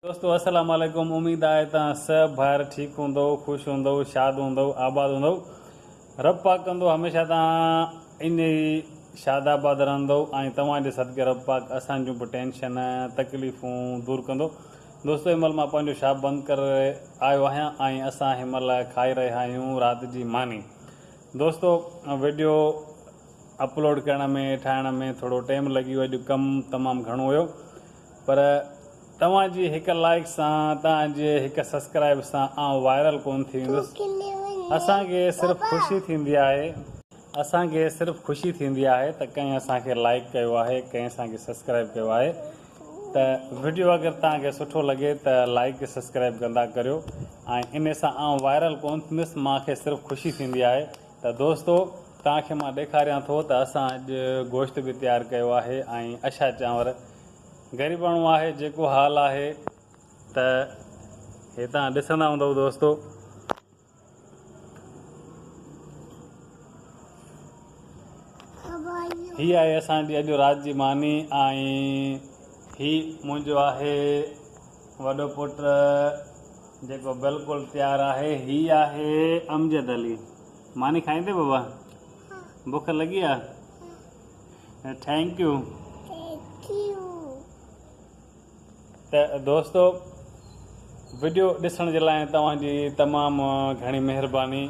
دوستو السلام عليڪم اميد آهي ته سڀ ڀائر ٺيڪ هوندؤ خوش هوندؤ شاد هوندؤ آباد هوندؤ رب پاڪ ڪندو هميشه تان ائين ئي شاد آباد رهندؤ ۽ توهان جي صدقي رب پاڪ اسان جون به ٽينشن تڪليفون دور ڪندو دوستو هن مهل مان پنهنجو شاپ بند ڪري آيو آهيان ۽ اسان هن مهل کائي رهيا آهيون رات جي ماني دوستو ويڊيو اپلوڊ ڪرڻ ۾ ٺاهڻ ۾ ٿورو ٽيم لڳي ويو اڄ ڪم تمام گهڻو هيو پر توهان جي هڪ لائيڪ سان توهان جي هڪ سسڪرائب سان آئون وائرل ڪون ٿي ويندس اسان کي صرف خوشي ٿيندي آهي اسان کي صرف خوشي ٿيندي آهي ته ڪنهن اسان کي لائيڪ ڪيو آهي ڪنهن اسان کي سسڪرائب ڪيو آهي ته وڊيو اگر توهان کي سٺو لڳي ته لائيڪ سسڪرائب ڪندا ڪريو ۽ انهي سان آئون وائرل ڪون ٿيندس مان کي صرف خوشي ٿيندي آهي ته دوستو توهان کي مان ڏيکاريان ٿو ته اسان اڄ گوشت به تيار ڪيو آهي ۽ اشا چانور غريباڻو آهي جيڪو حال آهي ته هي توهان ڏسندا هوندؤ دوستو هي آهي اسان جي اڄ رات جي ماني ۽ هي منهنجو آهي وڏو پٽ جيڪو بلڪل تيار آهي هي آهي امجد علي ماني کائيندي بابا بک لڳي آ ٿينڪيو ته دوستو وڊيو ڏسڻ جي لاء توهان جي تمام گهڻي مهرباني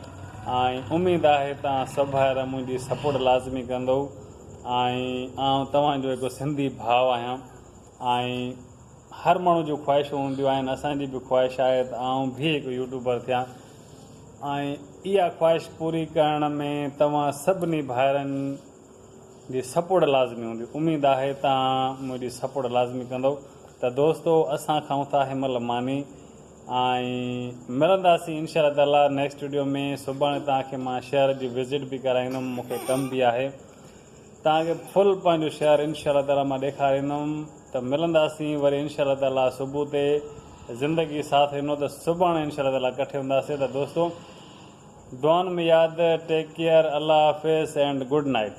۽ اميد آهي توهان سڀ ڀائر منهنجي سپورٽ لازمي ڪندو ۽ آئون توهان جو هڪ سنڌي ڀاء آهيان ۽ هر ماڻهو جون خواهشون هونديون آهن اسان جي به خواهش آهي ته آئون به هڪ يوٽيوبر ٿيان ۽ اها خواهش پوري ڪرڻ ۾ توهان سڀني ڀائرن جي سپورٽ لازمي هوندي اميد آهي تان منهنجي سپورٽ لازمي ڪندو ته دوستو اسان کائون ٿا هن مهل ماني ۽ ملنداسين انشاء الله تعالي نيڪسٽ ويڊيو ۾ سڀاڻي توهان کي مان شهر جي وزٽ به ڪرائيندم مونکي ڪم به آهي توهان کي فل پنهنجو شهر انشاء الله تعالي مان ڏيکاريندم ته ملنداسين وري انشاء الله تعالي صبح تي زندگي ساٿ ڏنو ته سڀاڻي انشاء الله تعالي ڪٺي هونداسين ته دوستو دعائن ۾ ياد ٽيڪ ڪيئر الله حافظ اينڊ گڊ نائيٽ.